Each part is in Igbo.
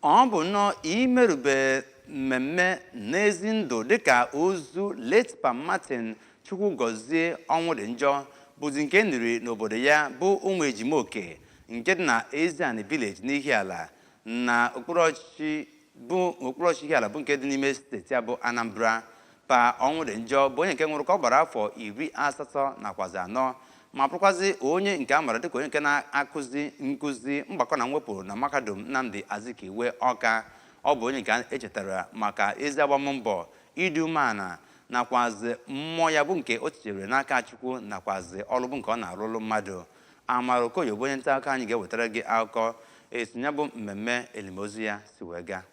ọ bụ nnọọ imerube mmemme n'ezi ndụ dịka ozu late Pa Martin Chukwugọzie Ọnwụdịnjọ bụzi nke e niri n'obodo ya bụ Ụmụejimoke nke dị na Eziani Village n'Ihiala na okpuru ọchịchị Ihiala bụ nke dị n'ime steeti a bụ Anambra Pa Ọnwụdịnjọ bụ onye nke nwụrụ ka ọ gbara afọ iri asatọ nakwazi anọ ma bụrụkwazị onye nke a mara dịka onye nke na-akụzi nkụzi mgbakọ na mwepụ na mahadum Nnamdi Azikiwe Ọka ọ bụ onye nke e chetara maka ezi agbammbọ ịdị umeala nakwazi mmụọ ya bụ nke o tinyere n'aka Chukwu nakwazi ọrụ bụ nke ọ na-arụrụ mmadụ Amara Okoye bụ onye nta akụkọ anyị ga-ewetara gị akụkọ etu ya bụ mmemme elimozu ya si wee gaa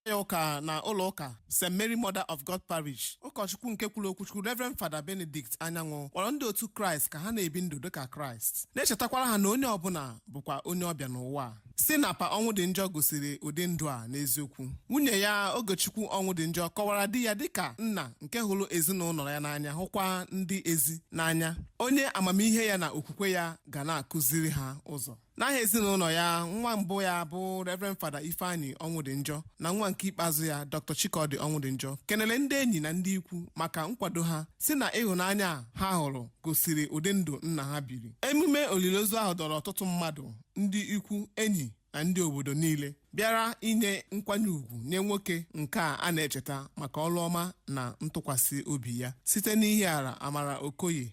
ya ụka na ụlọ ụka st mary mother of god parish ụkọchukwu nke kwuru okwuchukwu reverend fada benedict anyanwụ kpọrọ ndị otu kraịst ka ha na-ebi ndụ dịka kraịst na-echetakwara ha na onye ọbụla bụkwa onye ọbịa n'ụwa a. sị na pa ọnwụdịnjọ gosiri ụdị ndụ a n'eziokwu nwunye ya ogechukwu ọnwụdịnjọ kọwara di ya dịka nna nke hụrụ ezinụlọ ya n'anya hụkwa ndị ezi n'anya onye amamihe ya na okwukwe ya ga na-akụziri ha ụzọ n'aha ezinụlọ ya nwa mbụ ya bụ reverend fada ifeanyi ọnwụdịnjọ na nwa nke ikpeazụ ya dr chikọdị ọnwụdịnjọ kenere ndị enyi na ndị ikwu maka nkwado ha sị na ịhụnanya a ha hụrụ gosiri ụdị ndụ nna ha biri emume olili ozu ahụ dọrọ ọtụtụ mmadụ ndị ikwu enyi na ndị obodo niile bịara inye nkwanye ugwu nye nwoke nke a a na-echeta maka ọrụ ọma na ntụkwasị obi ya site n'ihiala amara okoye